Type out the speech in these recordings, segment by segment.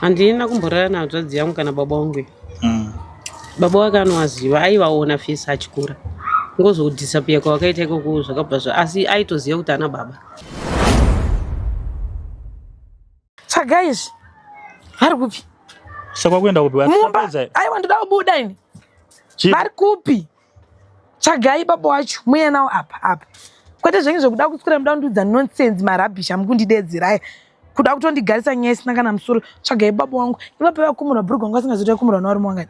handina kumborara nahadzvadzi yangu kana baba wangu mm. baba wake anovaziva aivaona fesi achikura ngozodhisapiya kwavakaita ikoko zvakabva zva asi aitoziva kuti ana baba tsvaga izvi vari kupi saka kuenda kupi mumba aiwa ndoda kubuda ini vari kupi tsvagai baba wacho muye nawo apa apa kwete zvenyu zvekuda kuswera muda kundiudza nonsense marabhish amukundidedzera aya kuda kutondigarisa nyaya isina kana musoro tsvagai baba wangu ivapo vakumurwa bhurugwa wangu asingazoita kumurwa nawarume wangani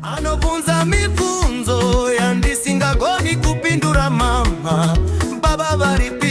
anobvunza mibvunzo yandisingagoni kupindura mama baba varipi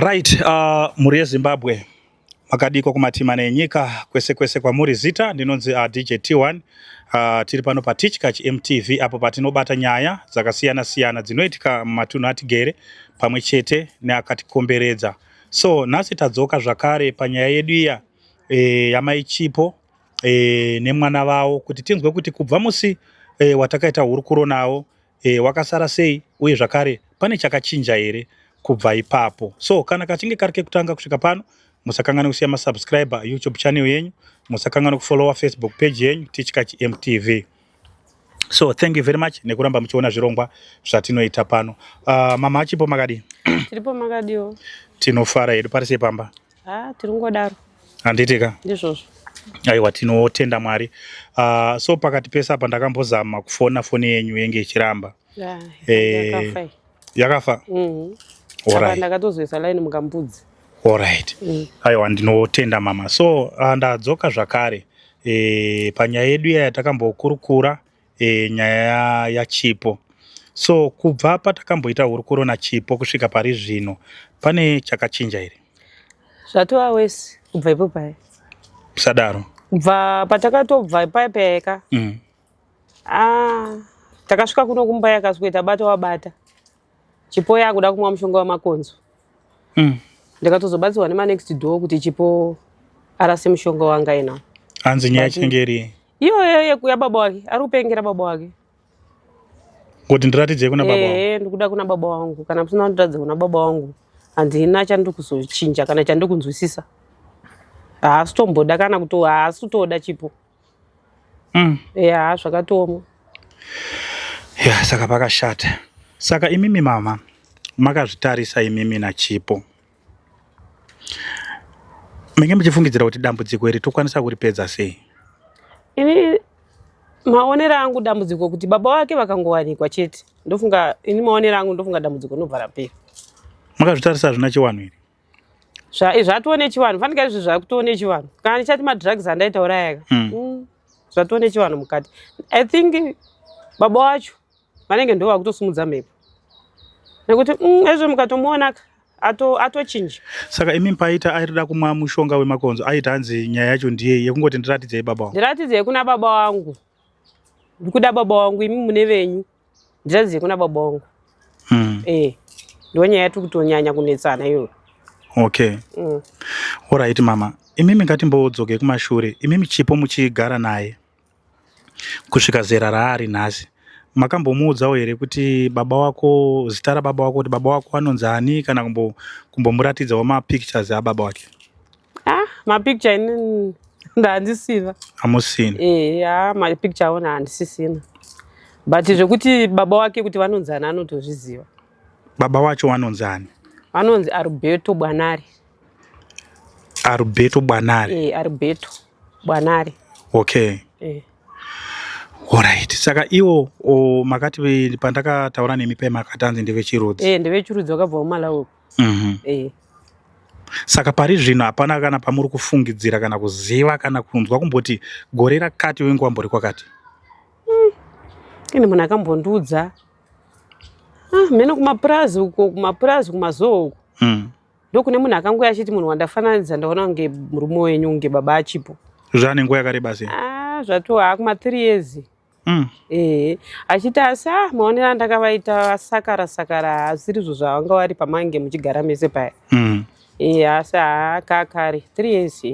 Right, uh, mhuri yeZimbabwe makadiko kumatima nenyika kwese kwese kwamuri zita ndinonzi uh, DJ T1 Uh, tiri pano patichkach mtv apo patinobata nyaya dzakasiyana siyana dzinoitika mumatunhu atigere pamwe chete neakatikomberedza so nhasi tadzoka zvakare panyaya yedu iya e, eh, yamaichipo e, eh, nemwana vavo kuti tinzwe kuti kubva musi e, watakaita hurukuro navo Eh, wakasara sei uye zvakare pane chakachinja here kubva ipapo. So kana kachinge kari kekutanga kusvika pano musakanganwe kusiya masubscriber youtube channel yenyu musakanganwe kufollowa facebook page yenyu tichkach mtv so thank you very much nekuramba muchiona zvirongwa zvatinoita pano uh, mama achipo makadii tiripo makadiwo tinofara hedu pari sepamba Ah, tiri kungodaro. Handiti ka? Ndizvozvo. Aiwa tinotenda Mwari. Uh, so pakati pese apa ndakambozama kufona foni yenyu yenge ichiramba. Yeah, eh, yakafa. Yakafa? Mhm. Mm Alright. Ndakatozoisa line mukambudzi. Alright. Mm. Aiwa ndinotenda mama. So uh, ndadzoka zvakare. Eh, panyaya yedu iya yatakambokurukura e, nyaya yachipo so kubva patakamboita hurukuro nachipo kusvika pari zvino pane chakachinja here zvatova wesi kubva ipo paye sadaro kubva patakatobva ipaye payeka mm. ah, takasvika kuno kumba yakasweta bata wabata chipo yakuda kumwa mushonga wemakonzo mm. ndikatozobatsirwa nemanext door kuti chipo arase mushonga wanga ina hanzi nyaya chenge iri iyoyo yekuya baba wake ari kupengera baba wake kuti ndiratidzei kuna baba ee ndikuda kuna baba wangu kana musina kundiratidza kuna baba wangu handina chandiri kuzochinja kana chandiri kunzwisisa haasi tomboda kana kuti haasi kutoda chipo mm. ya zvakatooma ya saka pakashata saka imimi mama makazvitarisa imimi nachipo menge muchifungidzira kuti dambudziko iri tokwanisa kuripedza sei ini maonero angu dambudziko kuti baba wake vakangowanikwa chete ndofunga ini maonero angu ndofunga dambudziko nobva rapera makazvitarisa zvina chiwanhu iri Zva, zvatoo nechivanhu fanika izvi zvakutoo nechivanhu kana ndichati madrugs andaitaura yaka mm. mm. zvatoo nechivanhu mukati i think baba wacho vanenge ndo vakutosimudza mhepo nekuti mm, ezvo mukatomuonaka atochinja ato saka imi paita airida kumwa mushonga wemakonzo aita hanzi nyaya yacho ndiye yekungoti ndiratidzei baba wangu ndiratidzei kuna baba wangu ndikuda baba wangu imi mune venyu Ndiradzi yekuna baba wangu. Mm. Eh. Ndiyo nyaya yatiri kutonyanya kunetsana iyoyo. Okay. Mm. All right mama. Imimi ngatimbodzokei kumashure. Imimi chipo muchigara naye kusvika zera raari nhasi makambomuudzawo here kuti baba wako zita rababa wako kuti baba wako anonzi ani kana kumbomuratidzawo kumbo mapictures ababa wake ah mapicture ini ndaandisiva amusina eh ah mapicture ona handisisina but zvekuti baba wake kuti vanonzi ani anotozviziva baba wacho wanonzi ani vanonzi arubeto bwanari arubeto bwanari e, eh, arubeto bwanari okay e. Alright. Saka iwo makati pandakataura nemi pema akatanzi ndevechirudzi. Eh, ndevechirudzi wakabva kumalawi. mm -hmm. saka pari zvino hapana kana pamuri kufungidzira kana kuziva kana kunzwa kumboti gore rakati wengu wambori kwakati mm. ini munhu akambondiudza ah, mheno kumapurazi uko kumapurazi kumazoho uko mm. ndokune munhu akangouya achiti munhu wandafananidza ndaona kunge murume wenyu kunge baba achipo zvanenguva yakareba sei ah, zvatoha kuma three years Mm. Eh, achiti asi ah, maonero andakavaita sakara sakara hasirizvo zvavanga vari pamange muchigara mese paya mm. e, asi haakakari three years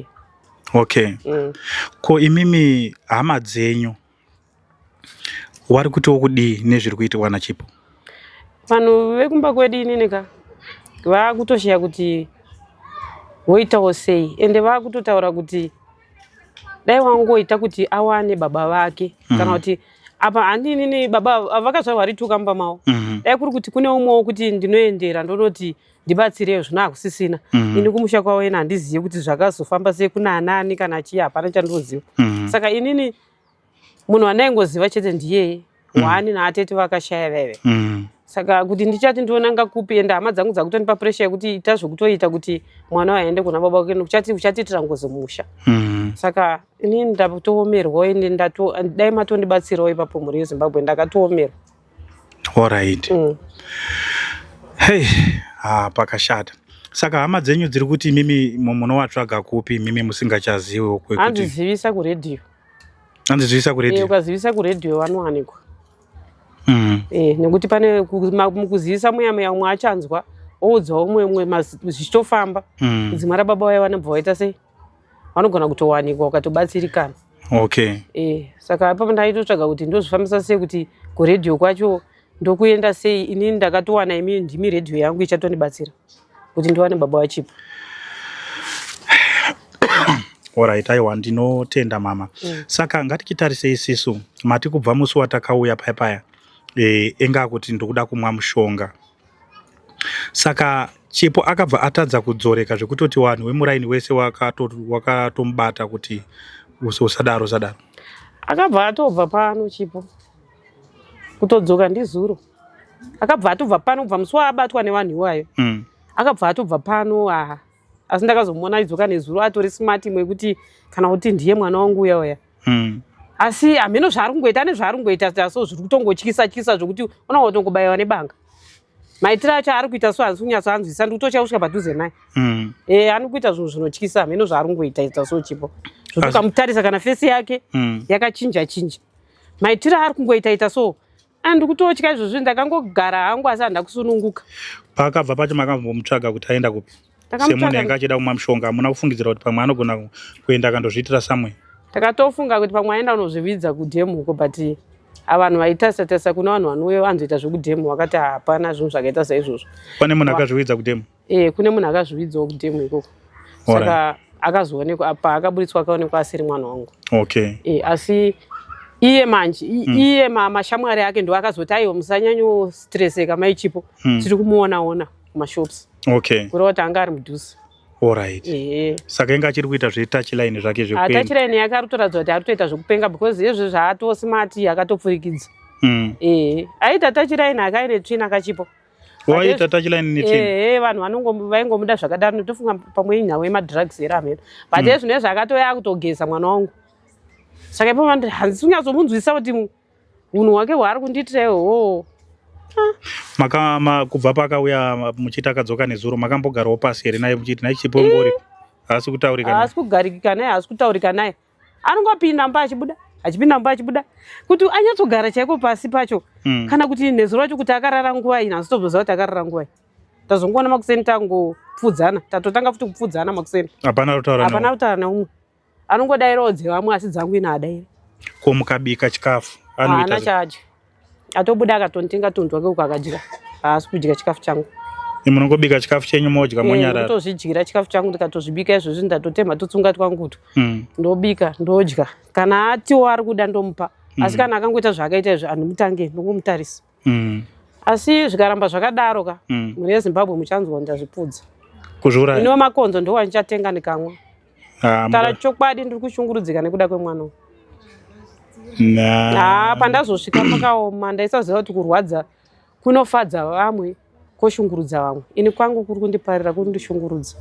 okay mm. ko imimi hama dzenyu wari kutiwo kudii nezviri kuitirwa nachipo vanhu vekumba kwedu inini ka vaakutosheya kuti voitawo sei ende vaakutotaura kuti dai wangoita kuti awane baba vake mm. kana kuti apa handinini baba vakazvarwa vari tuka mumba mavo mm -hmm. dai kuri kuti kune umwewo kuti ndinoendera ndonoti ndibatsireyo zvino hakusisina mm -hmm. ini kumusha kwavo ena handizive kuti zvakazofamba sei kuna anani kana chii hapana chandinoziva mm -hmm. saka inini munhu wandaingoziva chete ndiyeye mm. wani naatete vakashaya vaive mm. saka kuti ndichati ndionanga kupi ende hama dzangu dzakutondipa presha yekuti ita zvekutoita kuti mwana waende kuna baba wake nekuti uchatiitira ngozi musha mm. saka ini ndatoomerwa ende dai matondibatsirawo ipapo mhuri yezimbabwe ndakatoomerwa orit mm. hey ah, pakashata saka hama dzenyu dziri kuti imimi munowatsvaga kupi imimi musingachaziwi hanzizivisa kuredhiyo Hanzi zivisa ku radio. Eh ukazivisa ku radio vanowanikwa. Mm. Eh nekuti pane mukuzivisa muya muya umwe achanzwa oudza umwe umwe zvichitofamba. Mm. Dzimwe ra baba vaya vanobva vaita sei? Vanogona kutowanikwa ukatobatsirikana. Okay. Eh saka apa ndaitotsvaga kuti ndozvifambisa sei kuti ku radio kwacho ndokuenda sei ini ndakatowana imi ndimi radio yangu ichatondibatsira. kuti ndiwane baba vachipo orit aiwa ndinotenda mama mm. saka ngatichitarise isisu mati kubva musi watakauya paya paya e, enga akuti ndikuda kumwa mushonga saka chipo akabva atadza kudzoreka zvekutoti vanhu vemuraini wese wakatomubata waka kuti usadaro usadaro akabva atobva pano chipo kutodzoka ndizuro akabva atobva pano kubva musi waabatwa nevanhu iwayo mm. akabva atobva pano aha asi ndakazomuona aidzoka nezuro atori smart imwe yekuti kana kuti ndiye mwana wangu uya uya mm. asi hameno zvaari kungoita ane zvaari kungoita so zviri kutongotyisa tyisa zvokuti ona watongobayiwa nebanga maitiro acho ari kuita so hanzi kunyatso anzwisa ndi kutochaya kusvika padhuze naye mm. e, ani kuita zvinhu zvinotyisa hameno zvaari kungoita ita so chipo zvotukamutarisa kana fesi yake mm. yakachinja chinja maitiro aari kungoita ita so Ah, ndikutotya izvozvi ndakangogara hangu asi handina kusununguka paakabva pacho makambomutsvaga kuti aenda kupi semunhu yanga achida kumwa mushonga hamuna kufungidzira kuti pamwe anogona kuenda akandozviitira samwe takatofunga kuti pamwe aenda unozvividza kudhemu uko but avanhu vaitarisa tarisa kuna vanhu vanouya vanzoita zvekudhemu vakati hapana zvinhu zvakaita saizvozvo pane munhu akazvividza kudhemu Eh, kune munhu akazviwidzawo kudemo ikoko. Saka akazoonekwa apa akaburitswa akaonekwa asiri mwana wangu. Okay. Eh, asi iye manje hmm. iye mm. mashamwari ake ndo akazoti aiwa musanyanyo stresseka mai chipo mm. tiri kumuona ona kumashops okay kureva kuti anga ari mudhuze Alright. Yeah. Saka inga achiri kuita zve touch line zvake zve kuenda. Touch line yake ari toratidza kuti ari toita zvekupenga because yezve zvaatosimati akatopfurikidza. Mm. Eh, aita touch line akaine tsvina kachipo. waita tachiline nitini ehe vanhu vanongo vaingomuda zvakadaro ndotofunga pamwe inhau yemadrugs here amheno but hmm. ezvino ezvo akatoya kutogeza mwana wangu saka ipo vandi hanzi unyazomunzwisisa kuti unhu hwake hwaari kundiitira ihoo ah. kubva pakauya muchiti akadzoka nezuro makambogarawo pasi here naye muchiti naye chipo ungori haasi kutaurika haasi kugarikika naye haasi kutaurika naye anongopinda mumba achibuda achipinda mumba achibuda kuti anyatsogara chaiko pasi pacho mm. kana kuti nezu racho kuti akarara nguvai nhasi tozoziva kuti akarara nguvai tazongoona makuseni tangopfudzana tatotanga futi kupfudzana makuseni hapana kutaura neumwe anongodairawo dzevamwe asi dzangu ina adaira ko mukabika chikafu haana chadya atobuda akatonitenga tunhu twake uko akadya haasi kudya chikafu changu munongobika chikafu chenyu modya eh, monyararotozvidyira chikafu changu ndikatozvibika izvozvi ndatotemha tutsunga twangutu hmm. ndobika ndodya kana atiwo ari kuda ndomupa hmm. asi kana akangoita zvaakaita izvi andimutange ndongomutarisa hmm. asi zvikaramba zvakadaro ka mune yezimbabwe muchanzwa ndazvipudza kuzviuraya iniwo makonzo ndowandichatenga ndikamwa Ah, Tara chokwadi ndiri kushungurudzika nekuda kwemwana uyu. Ah, pandazosvika pakaoma ndaisaziva kuti kurwadza kunofadza vamwe koshungurudza vamwe. Ini kwangu kuri kundiparira kuri kundishungurudza.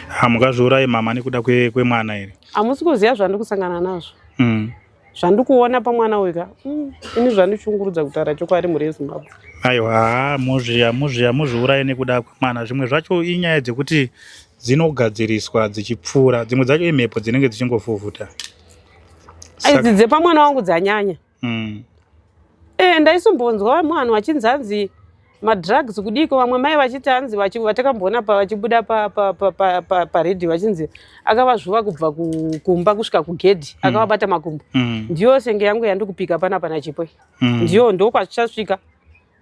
Hamukazviurayi ah, mama nekuda kwemwana here? Hamusi kuziva zvandiri kusangana nazvo. Mm. zvandikuona pamwana uyu ka mm, ini zvandichungurudza kutaura chokwadi mhuri yezimbabwe aiwa haa muzvi hamuzvi hamuzviuraye nekuda kwemwana zvimwe zvacho inyaya dzekuti dzinogadziriswa dzichipfuura dzimwe dzacho imhepo dzinenge dzichingofufuta idzi dzepamwana wangu dzanyanya mm. e, ndaisumbonzwa mwana wachinzi hanzi madrugs kudiko vamwe mai vachiti hanzi vatakamboona vachibuda paredhi vachinzi akavazvuva kubva kumba kusvika kugedhi mm. akavabata makumbo mm. ndiyo senge yangu yandikupika pana pana chipo mm. ndiyo ndokwazvichasvika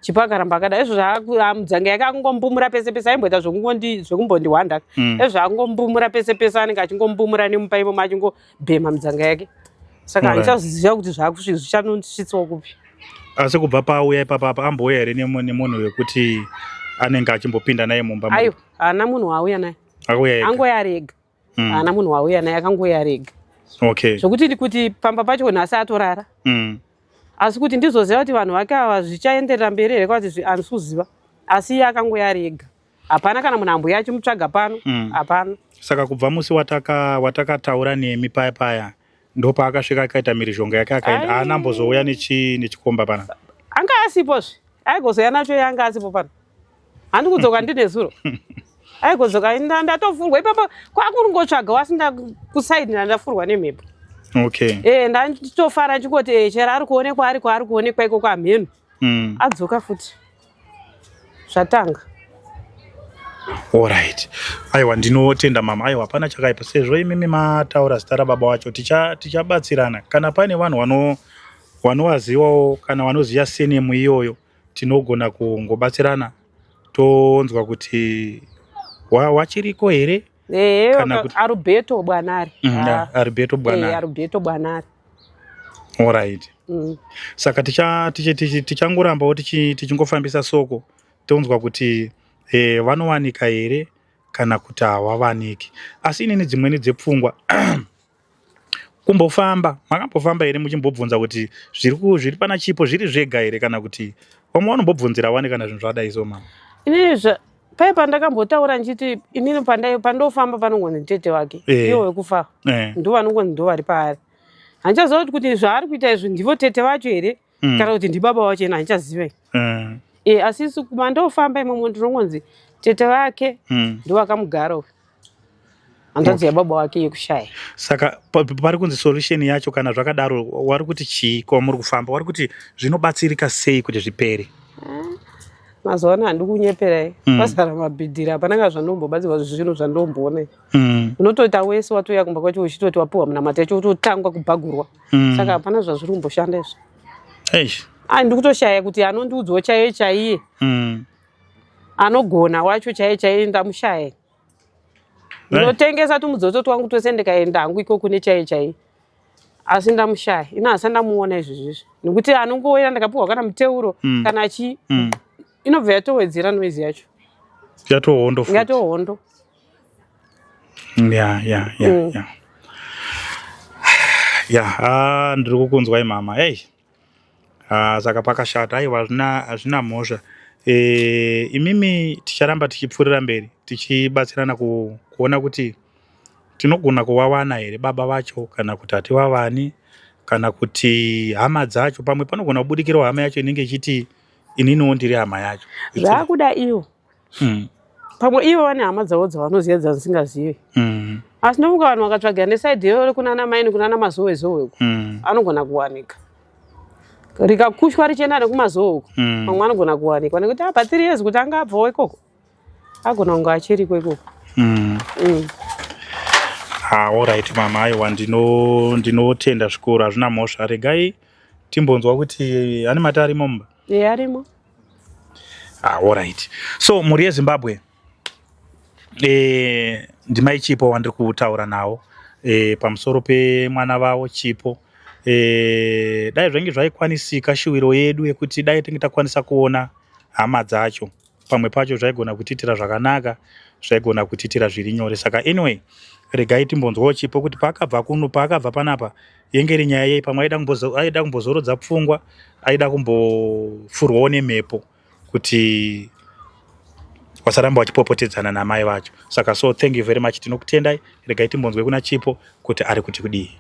chipo akaramba akada izvo zvaamdzanga yake akungombumura pese pese aimboita zvekumbondihwanda izvo akungombumura pese pese anenge achingombumura nemupaimo machingo bhema mudzanga yake saka Alright. handichaziva kuti zvaakusvi- zvichanosvitswa kupi asi kubva paauya ipapa apa ambouya here nemu- nemunhu wekuti anenge achimbopinda naye mumba muri? aiwa haana munhu waauya naye akauya ega angoya ari ega Mm. haana munhu waauya naye akangoya ari ega okay zvokuti ndi- kuti pamba pacho nhasi atorara Mm. asi kuti ndizoziva kuti vanhu vake ava zvichaenderera mberi here kwati zvi- handisi kuziva asi iye akangoya ari ega hapana kana munhu ambuya achimutsvaga pano mm. hapana mm. saka kubva musi watakataura wataka nemi paya paya ndopaakasvika akaita mirizhonga yake akaenda haana ambozouya nechikomba pana anga asipozve aigozouya nacho yanga asipo pano handi kudzoka ndine zuro aigozvoka ndatofurwa ipapo kwakuringotsvaga wasinda kusaidina ndafurwa nemhepo okay e ndanditofara chingoti eh, chero ari kuonekwa ari kwaari kuonekwa ikoko amhenu mm. adzoka futi zvatanga Alright. Aiwa ndinotenda mama. Aiwa hapana chakaipa. Sezvo imimi mataura zita rababa wacho ticha tichabatsirana. Kana pane vanhu vano vanowaziwawo kana vanoziva senemu iyoyo tinogona kungobatsirana tonzwa kuti wachiriko here Eh, kana kuti Arubeto Bwanari. Mm, ah. Arubeto eh, Bwanari. Eh, Arubeto Bwanari. All right. Mm. Saka ticha ticha ticha tichangorambawo tichi tichingofambisa soko tonzwa kuti eh vanowanika here kana kuti hawavaniki. Asi inini dzimweni dzepfungwa Kumbofamba, makambofamba here muchimbobvunza kuti zviri ku zviri pana chipo zviri zvega here kana kuti vamwe vanombobvunzira wani kana zvinhu zvadai so mama? Inini zva paye pandakambotaura ndichiti inini pandai pandofamba panongonzi tete wake Eh. iwo wekufa Eh. ndo vanongonzi ndo vari paari handichaziva kuti kuti zvaari kuita izvi ndivo tete vacho here mm. kana kuti ndibaba wacho ena handichaziva i mm. e, eh, asi isu mandofamba imomo ndinongonzi tete vake mm. ndovakamugara uyu hanzvadzi okay. yababa wake yekushaya saka pari kunzi solution yacho kana zvakadaro wari kuti chii kwamuri kufamba wari kuti zvinobatsirika sei kuti zvipere mm. mazuva ano handi kunyeperai mm. pasara mabhidhiri hapana ka zvandombobatsirwa zvinhu zvandomboona mm. unotoita wese watouya kumba kwacho uchitoti wapiwa munamata yacho utotangwa kubhagurwa mm. saka hapana zvazviri kumboshanda izvo eish ai ndikutoshaya kuti anondiudzwa chaiye chaiye mm. anogona wacho chaiye chaiye ndamushaya ndinotengesa tumudzodzo twangu twese ndikaenda hangu iko kune chaiye chaiye asi ndamushaya ino hasa ndamuona izvi zvizvi nekuti anongoera ndakapiwa kana muteuro mm. kana chii mm. inobva yatowedzera noizi yacho yatohondo yatohondo ya ya ya mm. ya ya ah, ndiri kukunzwai mama ei ah, saka pakashata aiwa hazvina mhosva e, imimi ticharamba tichipfuurira mberi tichibatsirana ku, kuona kuti tinogona kuvawana here baba vacho kana kuti hativavani kana kuti hama dzacho pamwe panogona kubudikirawo hama yacho inenge ichiti ininiwo ndiri hama yacho zvaakuda iwo mm. pamwe ivo vane hama dzavo dzavanoziva dzandisingazive mm. asi ndofunga vanhu vakatsvagira nesaidi iyo rekunana maini kunana mazowe zowe uku mm. anogona kuwanika rikakushwa richienda nekumazowe uku mm. pamwe anogona kuwanikwa nekuti apa ah, tiri yezi kuti anga abvawo ikoko agona kunge achiriko ikoko mm. mm. Ah, orit mama aiwa ndinotenda zvikuru hazvina mhosva regai timbonzwa kuti ane mata arimo mumba Eya arimo. Ah, all right. So mhuri yeZimbabwe eh ndimai Chipo wandiri kutaura nawo eh pamusoro pemwana vavo Chipo eh dai zvange zvaikwanisika shuwiro yedu yekuti dai tinge takwanisa kuona hama dzacho. pamwe pacho zvaigona kutiitira zvakanaka zvaigona kutiitira zviri nyore saka anyway regai timbonzwawo chipo kuti paakabva kuno paakabva panapa yenge iri nyaya yei pamwe aida kumbozorodza pfungwa aida kumbofurwawo nemhepo kuti wasaramba wachipopotedzana namai vacho saka so thank you very much tinokutendai regai timbonzwe kuna chipo kuti ari kuti kudii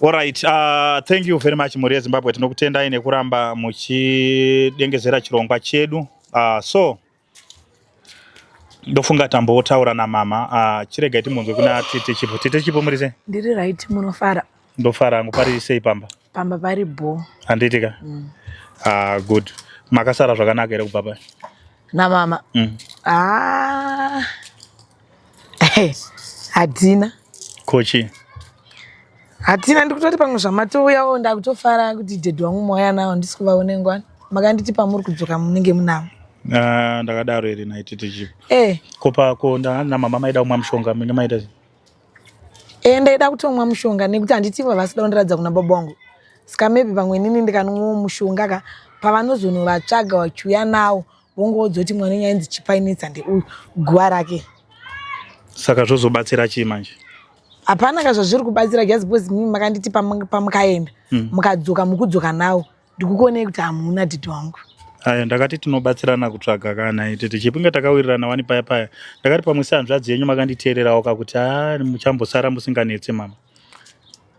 Alright, uh, thank you very much Mhuri yeZimbabwe, tinokutendai nekuramba muchidengezera chirongwa chedu. Uh, so ndofunga tambotaura namama uh, chiregai timunzwe kuna tete chipo. Tete chipo muri sei? Ndiri right, munofara? Ndofara hangu, pari sei pamba? Pamba pari bho. Handiti ka? Mm. Uh, good. Makasara zvakanaka here kubva pai? Namama? Mm. Ah. hatina kochi hatina ndikutoti pamwe zvamatouyawo ndakutofara kuti dhedhi wangu mauya nawo handisi kuvaone ngwani makanditi pamuri kudzoka munenge munavo Ah, ndakadaro iri naiti tichi e ko pako nda- namama maida kumwa mushonga mine maita sei? e ndaida kutomwa mushonga nekuti handiti vavasida kundiratidza kuna baba wangu ska maybe pamwe inini ndikanwa mushonga ka pavanozonovatsvaga vachiuya nawo wongoudzwa kuti mwana wenyu ainzi chipainitsa ndeuyu guva rake saka zvozobatsira chii manje hapana ka zvazviri kubatsira just because mimi makanditi pamukaenda hmm. mukadzoka mm. mukudzoka nawo ndikukuonei kuti hamuna didi wangu aya ndakati tinobatsirana kutsvaga kana iti tichipunge takawirirana wani paya paya ndakati pamwe sehanzvadzi yenyu makanditeererawo ka kuti a ah, muchambosara musinganetse mama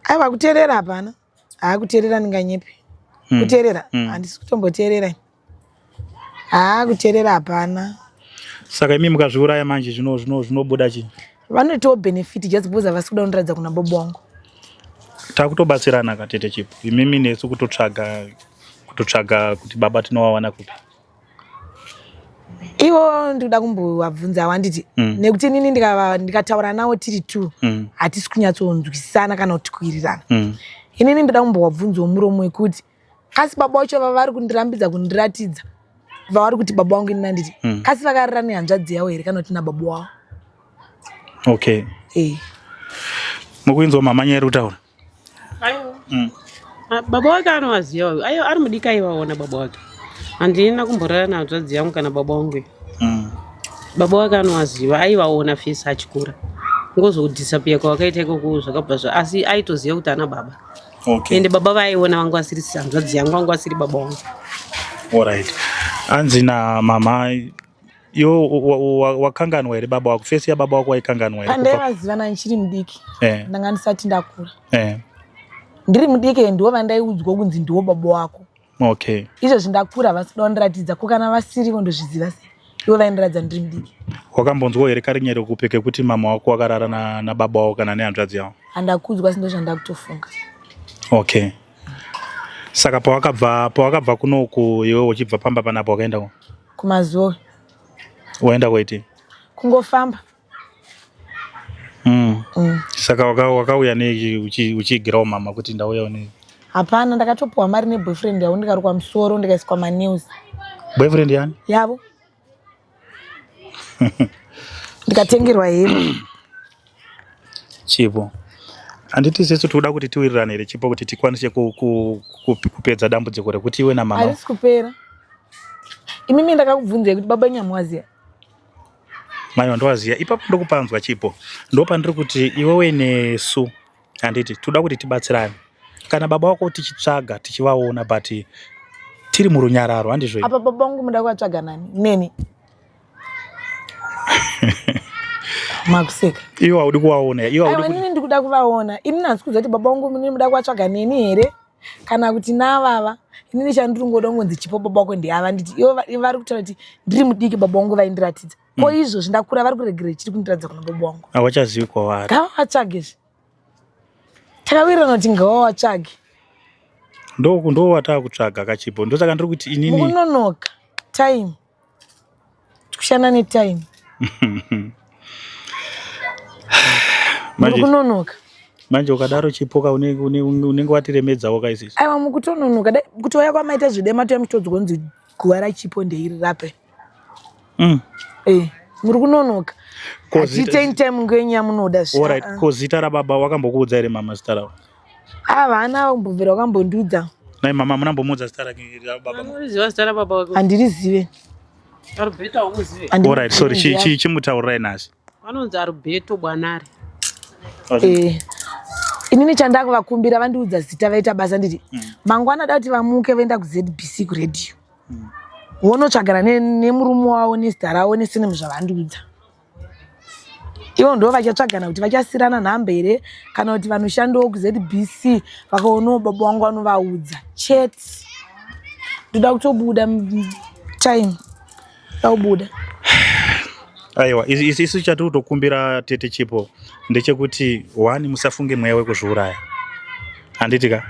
aiwa kuteerera hapana haa kuteerera ndinganyepi mm. kuteerera mm. handisi kutomboteerera haa kuteerera hapana saka imi mukazviuraya manje zvinobuda zvino, zvino chii vanotiwo benefit just because havasi kuda kundiratidza kuna bobo wangu takutobatsirana katete chipo imimi nesu kutotsvaga kutotsvaga kuti baba tinowawana kupi ivo ndikuda kumbovabvunza wanditi mm. nekuti inini ndikataura navo tiri two mm. hatisi kunyatsonzwisana kana kuti kuirirana mm. inini ndoda kumbovabvunzawo muromo wekuti kasi baba wacho vavari kundirambidza kundiratidza vavari kuti baba wangu ini nanditi mm. kasi vakarira nehanzvadzi yavo here kana kuti nababa wavo okay eh. mukuinzwa mhamanyeri kutaura Ayo. Mm. Ah, baba wake anowaziva uyu. Ayo ari mudika ivaona baba wake. Handina kumborara nahadzvadzi yangu kana baba wangu. Mm. Baba wake anowaziva aivaona fesi achikura. Ngozodisappear kwavakaita ikoko zvakabva zva asi aitoziva kuti ana baba. Okay. Ende baba vaiona vangu vasiri hanzvadzi yangu vangu vasiri baba wangu. All right. Anzi na mama Yo wakanganwa wa, wa here baba wako? Face ya baba wako waikanganwa here? Pandaivaziva ndichiri mudiki. Eh. Ndanga ndisati ndakura. Eh. Ndiri mudiki ndiwo vandaiudzwa kunzi ndiwo baba wako. Okay. Izvozvi ndakura havasi kuda kundiratidza ko kana vasirivo ndozviziva sei? Ivo vaindiratidza ndiri mudiki. Wakambonzwawo here karinyero kupi kekuti mama wako wakarara na, na baba wako kana nehanzvadzi yavo? Handakuudzwa asi ndozvandakutofunga. Okay. Saka pawakabva pawakabva kunoku iwe uchibva pamba panapo wakaenda ku? kumazoe waenda kwaiti kungofamba mm. Mm. saka wakauya nei uchiigirawo mama kuti ndauyawo nei hapana ndakatopiwa mari neboyfriend yavo ndikarukwa musoro ndikaiswa manews boyfriend yani yavo ndikatengerwa hembe Chipo. Handiti sesu tikuda kuti tiwirirane here Chipo kuti tikwanise ku, ku, ku, kupedza dambudziko rekuti iwe namama. Harisi kupera. Imimi ndakakubvunzei kuti baba nyamwaziya. Maiwa ndowaziya. Ipapo ndokupanzwa Chipo. Ndopandiri kuti iwewe nesu handiti tikuda kuti tibatsirane. Kana baba wako tichitsvaga tichivaona but tiri murunyararo handizvo here? Apa baba vangu muda kuvatsvaga nani? Neni. makuseka iwo haudi kuvaona iwoinini ndikuda kuvaona ini nanzi kuziva kuti baba vangu inini muda kuvatsvaga neni here kana kuti navava inini chandiri ngoda kungonzi chipo baba wako ndiava nditi ivo vari kutaura kuti ndiri mudiki baba vangu vaindiratidza mm. ko izvozvi ndakura vari kuregera chiri kundiratidza kuna baba vangu havachazivi kwavari ngavavatsvage zve takawirirana kuti ngavavatsvage ndoku ndo watakutsvaga kachipo ndosaka ndiri kuti inini unonoka time tikushanda netime kunonoka manje ukadaro chipoka unenge watiremedzawo kaisisi aiwa mukutononoka dai kuti waya kwamaita zvidema toya muchitodzwa kunzi guva rachipo ndeiri rape mm. eh, muri kunonoka kozita rababa wakambokuudza here mama zita ravo Havana kumbobvira wakambondiudza. Nai mama hamuna kumbomuudza zita rake rababa. Unoziva zita rababa wako? Handirizive. Arubheta umuzive? All right, sorry. Chi chi chimutaurai nasi. Vanonzi Arubheto Bwanare. Eh. Inini chandakuvakumbira vandiudza zita vaita basa nditi mm. mangwana da kuti vamuke vaenda kuZBC kuradio. Mm. Wonotsvagana nemurume wavo nezita ravo nesinemu zvavandiudza. ivo ndo vachatsvagana kuti vachasirana nhambe here kana kuti vanoshandiwo kuzbc vakaonawo baba wangu vanovaudza chete ndoda kutobuda time da kubuda aiwa isu chati kutokumbira tete chipo ndechekuti wani musafunge mweya wekuzviuraya handiti ka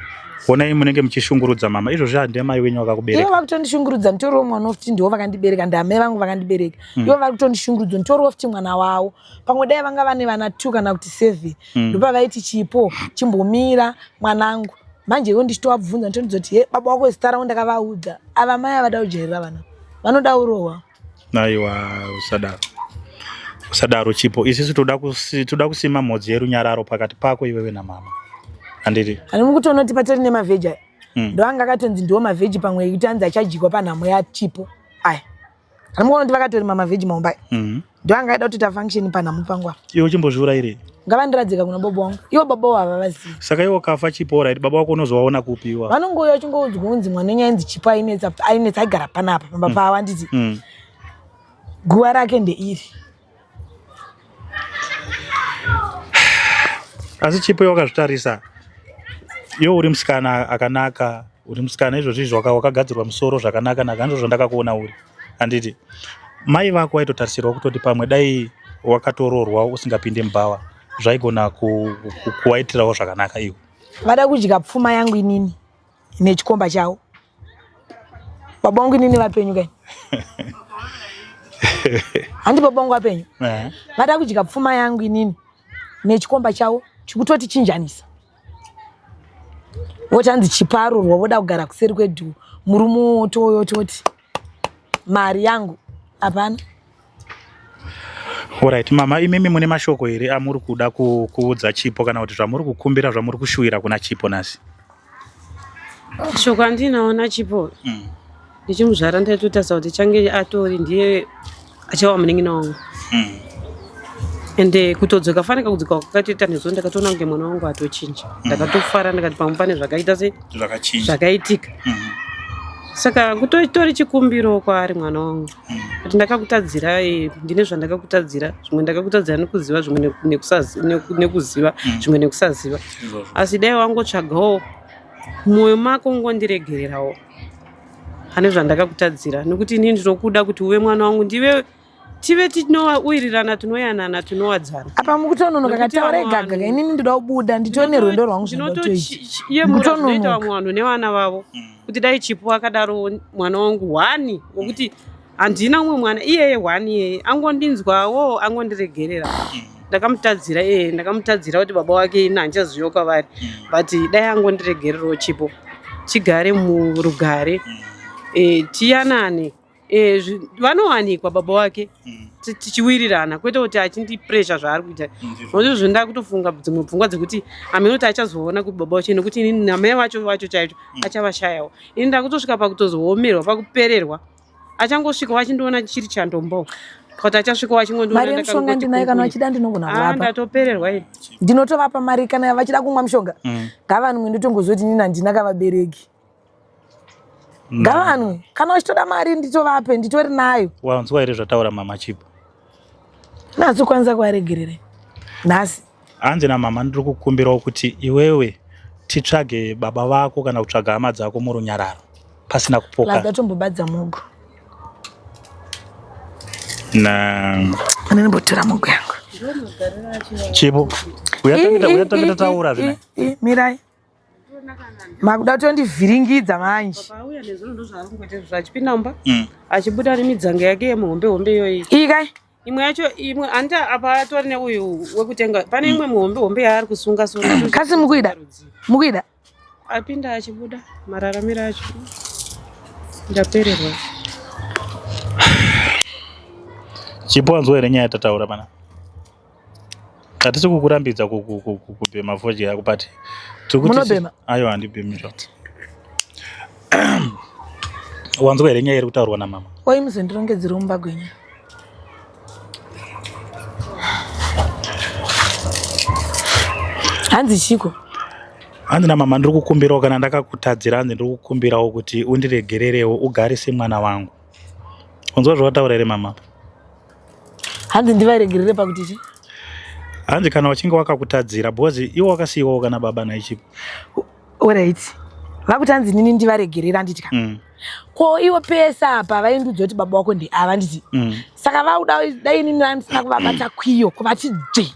honai munenge muchishungurudza mama izvozvi handimai wenyu vakakubereka ivo vakutondishungurudza nditoriwo mwana wokuti ndiwo vakandibereka ndiamai vangu vakandibereka mm. ivo vari kutondishungurudzo nditoriwo futi mwana wavo pamwe dai vanga vane vana two kana kuti seven mm. ndopavaiti chipo chimbomira mwanangu manje ivo ndichitovabvunza nditondidzo kuti he baba wako zita ravo ndakavaudza ava mai avada kujairira vana vanoda urohwa aiwa usadaro usadaro chipo isisu toda kusima mhodzi yerunyararo pakati pako iwewe namama andiri ani mukutonoti patori nemavheji aya mm. ndoanga akatonzi ndiwo mavheji pamwe ekuti anzi achajikwa panhamo yachipo aya Anomuona kuti vakatori mama veg maumbai. Mhm. Ndiyo anga aida kutoita function panhamu pangu apa. Iwe chimbozviura iri. Ngavandiradzika kuna baba wangu. Ivo baba wavo havazivi. Saka iwe ukafa chipo right baba wako unozowaona kupi iwa. Vanongouya vachingoudzwa kunzi mwana wenyu ainzi chipo ainetsa ainetsa aigara panapa pamba mm. pavo handiti. Mm. Guva rake ndeiri. asi chipo wakazvitarisa iwe uri musikana akanaka uri musikana izvozvi izvo wakagadzirwa musoro zvakanaka naka ndizvo zvandakakuona uri handiti mai vako waitotarisirwa kutoti pamwe dai wakatoroorwa usingapinde mubhawa zvaigona kuwaitirawo zvakanaka iwe vada kudya pfuma yangu inini nechikomba chavo baba wangu inini vapenyu kani handi baba wangu vapenyu eh. vada kudya pfuma yangu inini nechikomba chavo chikutoti chinjanisa voti hanzi chiparurwa voda kugara kuseri kwedu murume wotoyo toti mari yangu hapana Alright, mama imimi mune mashoko here amuri kuda kuudza Chipo kana kuti zvamuri kukumbira zvamuri kushuwira kuna Chipo nhasi? Shoko andinaona Chipo. Mm. Ndichimuzvara ndaitotarisa kuti change atori ndiye achava munin'ina wangu hmm. ende eh, kutodzoka faneka kudzoka kwakatoita nezuva ndakatoona kunge mwana wangu atochinja hmm. ndakatofara ndikati pamwe pane zvakaita se zvakaitika hmm. saka kutotori chikumbiro kwaari mwana wangu kuti ndakakutadzira eh, ndine zvandakakutadzira zvimwe ndakakutadzira nekuziva zvimwe nekuziva zvimwe nekusaziva asi dai wangotsvagawo mwoyo mako ngondiregererawo pane zvandakakutadzira nokuti inini ndinokuda kuti uve mwana wangu ndive tive tinowirirana tinoyanana tinowadzana apa mukutononoka kataura igaga inini ndoda kubuda nditone rwendo rwangu zvinotoyemuraoita vamwe vanhu nevana vavo mm. kuti dai chipo akadaro mwana wangu hwani wokuti handina umwe mwana iyeye one iyeye angondinzwawo angondiregerera mm. ndakamutadzira iyeye ndakamutadzira kuti baba wake ini handichaziviwo kwavari mm. but dai angondiregererawo chipo chigare murugare mm. e, tiyanane e, vanowanikwa baba wake tichiwirirana kwete kuti achindipresha zvaari kuita nokuti zvinhu ndakutofunga dzimwe pfungwa dzekuti amene kuti achazoona kuti baba wacho nokuti ini namai vacho vacho chaicho achavashayawo ini ndakutosvika pakutozoomerwa pakupererwa achangosvikawo achindiona chiri chandombo kuti achasvikawo achingondimari yemushonga ndinayo kana vachida ndinogona kuvapa ah, ndatopererwa iri ndinotovapa mari kana vachida kumwa mushonga mm. ngavanwe ndotongozoti nini handina kavabereki mm. ngavanwe kana vachitoda mari nditovape nditori nayo wanzwa here zvataura mama chipo nhasi ukwanisa kuvaregerere nhasi hanzi namama ndiri kukumbirawo kuti iwewe titsvage baba vako kana kutsvaga hama dzako murunyararo pasina kupoka ndatombobadza mugo naanenimbotora mugo yangu chipo uyatangita taura zvina mirai makuda kutondivhiringidza manje mm. achibuda nemidzanga yake yemuhombe hombe iyoyi iyi kai imwe yacho imwe hanti apa atori neuyu wekutenga pane mm. imwe muhombe hombe yaari kusunga sunga kasi mukuida mukuida apinda achibuda mararamiro acho ndapererwa chipo wanzwa here nyaya yatataura pana Hatisi kukurambidza kubhema fodya yako but munobhema aiwa handibhemi zvakuti wanzwa here nyaya iri kutaurwa namama wai muzondirongedzera umba gwenya hanzi chiko hanzi namama ndiri kukumbirawo kana ndakakutadzira hanzi ndiri kukumbirawo kuti undiregererewo ugare semwana wangu unzwa zvawataura here mama hanzi ndivaregerere pakuti chi hanzi kana wachinge wakakutadzira because iwo wakasiyiwawo kana baba naichipo orit vakuti hanzi nini ndivaregerera anditika mm. ko iwo pese apa vaindudza kuti baba wako ndeava nditi mm. saka vauda dai nini andisina kuvabata kwiyo kuvati dzvii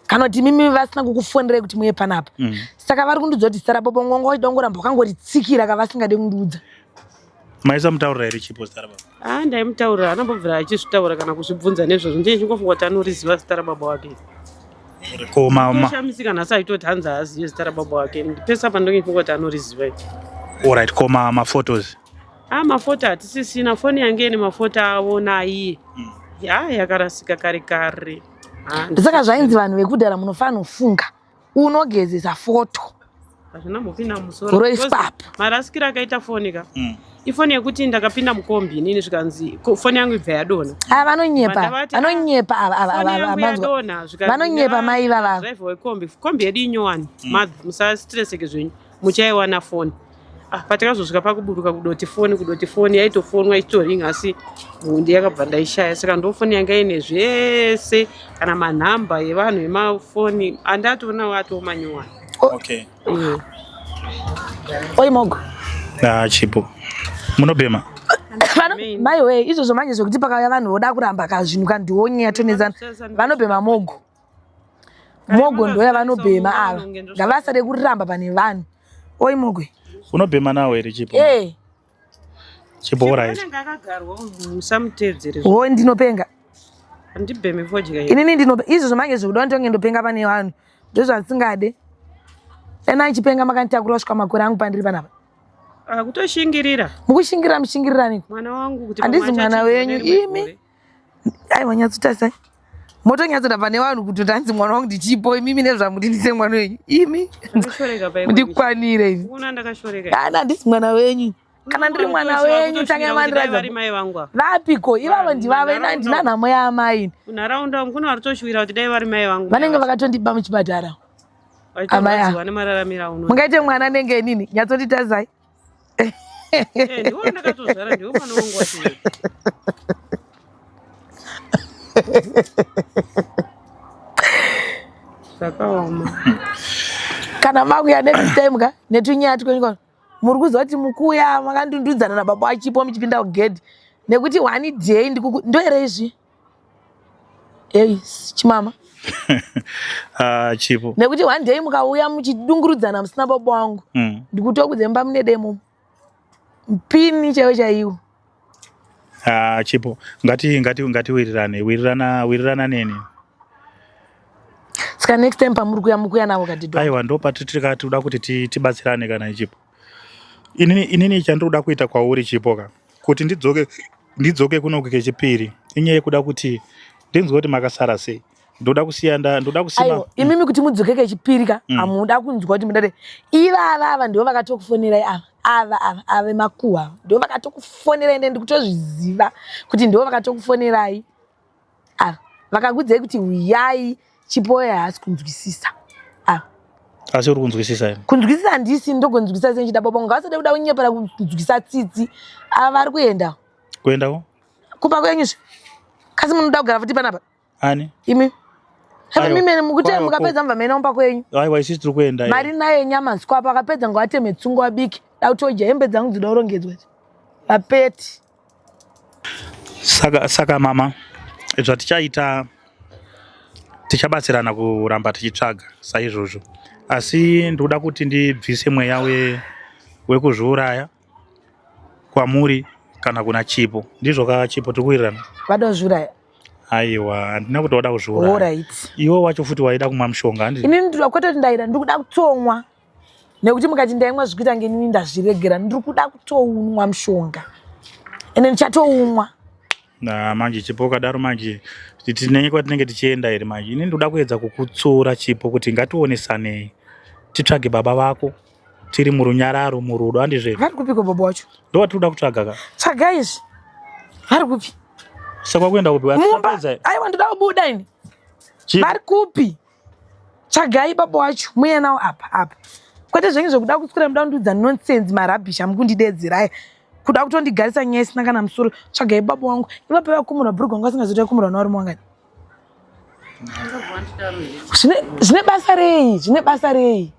kana kuti mimi vasina kukufonerei kuti muye panapa mm. saka vari kundiudza kuti starabobo ngonga wachida kungoramba wakangoritsikira ka vasingade kundiudza maisamutaurira here chipo starababa a ah, ndaimutaurira anambobvira achizvitaura kana kuzvibvunza nezvazvo ndiye chingofunga kuti anoriziva zita rababa wake koshamisika nhasi aitoti hanzi haazive zita rababa wake pesa pandongifunga kuti anoriziva i orit ko maphotos a ah, mafoto hatisisina foni yange ine mafoto avo naiye hmm. ya yakarasika kare kare Ah, ndisaka zvainzi vanhu vekudhara munofanofunga unogezesa foto hazvina mupinda musoro roispapo marasikiro akaita foni ka mm. ifoni yekuti ndakapinda mukombi inini zvikanzi foni yangu ibva yadona ah, vanonyepa vanonyepa avanyepa vanonyepa mai vavavo drive wekombi kombi yedu inyowani mm. musastresseke zvenyu muchaiwana foni Ah, patakazosvika pakuburuka kudoti foni kudoti foni yaitofonwa ichitoringa asi hundi yakabva ndaishaya saka ndofoni yanga ine zvese kana manhamba evanhu emafoni andatoonawo atoomanyowani okay. mm. oi mogo ah, chipo munobhema maiwe izvozvo manje zvekuti pakauya vanhu voda kuramba kazvinhu kandionyaya tonezana vanobhema mogo mogo ndoya vanobhema ava ngavasade kuramba pane vanhu oi mogwe unobhema nawo here chipo eh. chipo orit o ndinopenga inini ndinope izvo zvamange zvekuda nditonge ndopenga pane vanhu ndozvasingade ena achipenga makanditakura kusvika makore angu pandiri panapa akutoshingirira mukushingirira mushingiriraniko mwana wangu kuti handizi mwana wenyu imi aiwa nyatsotarisai motonyatsoda pane vanhu kuti tanzi mwana wangu ndichipo imimi nezvamudinise mwana wenyu imi ndikwanire iana handisi mwana wenyu kana ndiri mwana wenyu tange mandirazvapiko ivavo ndivavo ina ndina nhamo yaamai vanenge vakatondiba muchipatara amai mungaite mwana anenge nini nyatsonditazai Eh, ndiwe wandakatozvara ndiwe mwana wangu wacho uyu. Zvakaoma. kana makuya next time ka netunyaya twenyu ka muri kuziva kuti mukuya makandundudzana nababa wachipo muchipinda kugedhi nekuti one day ndikuku- ndoere izvi Hey, chimama. ah, chipo. Nekuti one day mukauya muchidungurudzana musina baba wangu. Mm. Ndikuto kudzemba mune demo. Mpini chaiwo chaiwo. Ah, chipo. Ngati ngati ngati wirirane. Wirirana wirirana neni. Ska next time pamuri kuya mukuya navo kadidwa. Aiwa ndo patiri kati uda kuti tibatsirane kana ichipo. Inini, inini chandiri kuda kuita kwauri chipo ka kuti ndidzoke ndidzoke kunoku kechipiri inyaya yekuda kuti ndinzwe kuti makasara sei ndoda kusiya nda ndoda kusima aiwa imimi kuti mudzoke kechipiri ka Mm. hamuda kunzwa kuti mudare ivava ava ndivo vakatokufonerai ava ava ava ava vemakuhwa ava ndivo vakatokufonerai ende ndikutozviziva kuti ndivo vakatokufonerai ava vakakudzai kuti huyai chipoya haasi kunzwisisa ava asi uri kunzwisisa imi kunzwisisa handisi ndogonzwisisa sei ndichida baba ngavasade kuda kunyepera kunzwisisa tsitsi ava vari kuenda kuendako kumba kwenyu zve kasi munoda kugara futi panapa ani imi Hava Aiwa. mimene mukuti Kwaiwa, mukapedza mubva maenda kumba kwenyu aiwa isusu tiri kuenda iyo. mari nayo nyama sikwapo akapedza ngavateme tsungu abike dauti oja hembe dzangu dzinoda kurongedzwa vapeti Saka, saka mama, zvatichaita tichabatsirana kuramba tichitsvaga saizvozvo, asi ndikuda kuti ndibvise mweya we, wekuzviuraya kwamuri kana kuna Chipo. Ndizvo ka Chipo tiri kuwirirana? vada kuzviuraya Aiwa, handina kuti wada kuzviuraya. orit Iwe wacho futi waida kumwa mushonga handi? inini ndiri kwete kuti ndaida ndiri kuda kutsomwa nekuti mukati ndaimwa zvikuita ngenini ndazviregera ndiri kuda kutounwa mushonga ende ndichatounwa na manje chipo ukadaro manje tinenye kwatinenge tichienda here manje ini ndikuda kuedza kukutsura chipo kuti ngationesanei titsvage baba vako tiri murunyararo murudo andizve vari kupiko baba wacho ndo watiri kuda kutsvaga ka tsvaga izvi vari kupi sakwakuenda kupi aiwa ndoda kubuda ini vari kupi tsvagai baba wacho muye nawo apa apa kwete zvenyu zvekuda kuswera muda kundiudza nonsense marabhish amukundidedzera aya kuda kutondigarisa nyaya isina kana musoro tsvagai baba wangu ivapo vakumurwa bhurugwa wangu asingazoita kumurwa nawarume wangani zvine basa rei zvine basa rei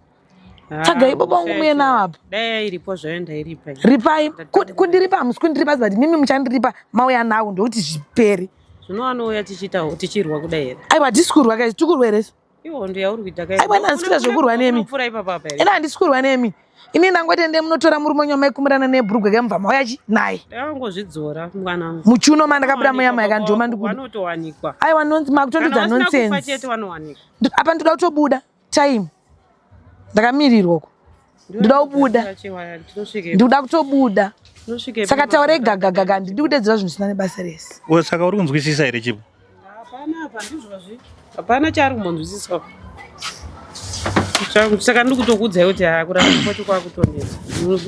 tsvagai ah, baba vangu muye nawo apa dai yairipo zvayo ndairipa ripai kundiripa hamusi kundiripa zivati mimi muchandiripa mauya nawo ndokuti zviperi zvinowanouya tichiitawo tichirwa kudai here aiwa tisi kurwa kai tikurwa here ihondo yauri kuita kai aiwa handisi kuita zvekurwa nemi ena handisi kurwa nemi ini ndangoti ende munotora murume wenyu amaikumirana nebhurugwa ke mubva mauya chi naye angozvidzora mwanangu muchuno mandakabuda muya mai kandoma ndikuanotowanikwa aiwa makutondidza nonsense apa ndoda kutobuda time ndakamirirwa uko ndinoda kubuda ndikuda kutobuda saka taure gagagaga ndidi kudedzera zvinhu zvisina nebasa rese saka uri kunzwisisa here chipo hapana chaari kumbonzwisiswa saka ndiri kutokuudzai kuti hakuramba kwacho kwakutonetsa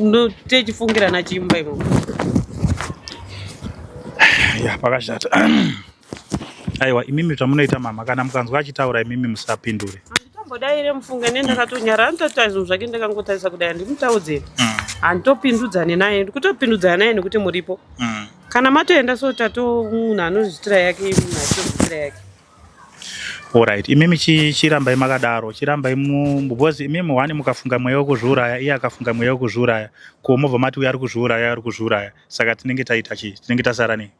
ndotechifungira nachimba imomo ya pakashata Aiwa imimi zvamunoita mama kana mukanzwa achitaura imimi musapindure. Handitombodaire mufunge ne ndakatonyara anotoita zvinhu zvake ndakangotarisa kudai handimutaudzei. Mm. Handitopindudzane naye ndikutopindudzana naye nekuti muripo. Mm. Kana matoenda so tato munhu anozvitira yake munhu achitozvitira yake. Alright, imimi chi- chirambai makadaro, chirambai mu because imimi wani mukafunga mweya wekuzviuraya, iye akafunga mweya wekuzviuraya, ko mobva mati uyu ari kuzviuraya, uyu ari kuzviuraya, saka tinenge taita chii? Tinenge tasara nei?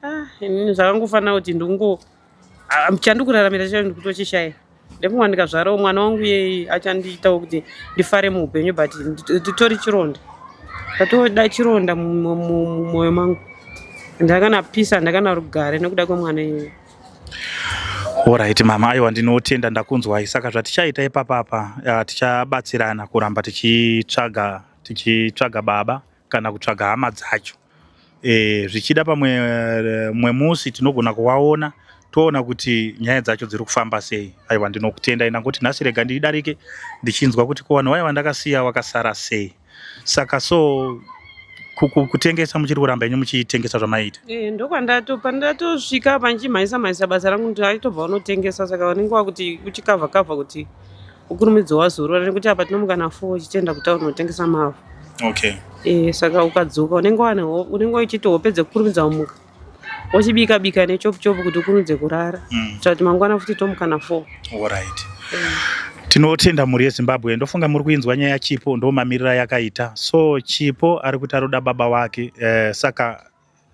ah, inini zvakangofanira kuti ndingo ah, chandikuraramira chacho ndikutochishaya ndekuwa ndikazvarawo mwana wangu iyeye achandiitawo kuti ndifare muupenyu but nditori chironda ndatoda chironda mumwoyo mangu ndakana pisa ndakana rugare nekuda kwemwana iyeye Alright mama, aiwa ndinotenda ndakunzwai. Saka zvatichaita ipapa apa tichabatsirana kuramba tichitsvaga tichitsvaga baba kana kutsvaga hama dzacho e, zvichida pamwe eh, mwe musi tinogona kuwaona toona kuti nyaya dzacho dziri kufamba sei aiwa ndinokutenda ina kuti nhasi rega ndidarike ndichinzwa kuti ko vanhu vaiva ndakasiya vakasara sei saka so kutengesa muchiri kuramba inyu muchitengesa zvamaiita e, ndokwandato pandatosvika panchimhaisa mhaisa basa rangu kuti aitobva unotengesa saka vanenge wakuti uchikavha kavha kuti Ukurumidzo wazorora nekuti apa tinomuka na 4 uchitenda kuti unotengesa mavhu. Okay. Eh saka ukadzoka unenge wane unenge uchiti wopedza kukurumidza umuka. Wochibika bika ne chop chop kuti ukurumidze kurara. Mm. Kuti mangwana futi tomuka na 4. All right. Mm. Tinotenda mhuri yeZimbabwe ndofunga muri kuinzwa nyaya Chipo ndomamirira yakaita. So Chipo ari kuti aroda baba wake eh, saka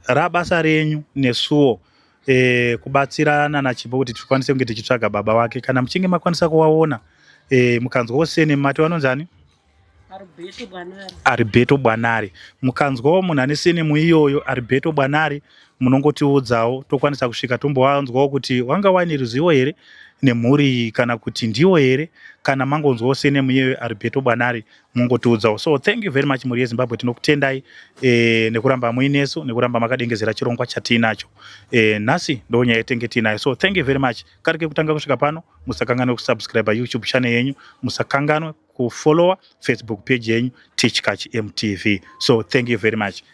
Rabasa renyu nesuwo e, kubatsira nana Chipo kuti tikwanise kunge tichitsvaga baba wake. Kana muchinge makwanisa kuwaona e, mukanzwa usene mati wanonzani? Aribeto Bwanari. Aribeto Bwanari. Mukanzwawo munhu ane sene muiyoyo Aribeto Bwanari munongotiudzawo tokwanisa kusvika tombowanzwawo kuti wanga waine ruzivo here nemhuri iyi kana kuti ndiwo here kana mangonzwawo sene muiyoyo Aribeto Bwanari mungotiudzawo so thank you very much mhuri yezimbabwe tinokutendai e, nekuramba muinesu nekuramba makadengezera chirongwa chatiinacho e, nhasi ndo nyaya yetenge tiinayo so thank you very much kari kekutanga kusvika pano musakanganwe kusubscribe youtube channel yenyu musakanganwe kufollowa facebook page yenyu tichkach mtv so thank you very much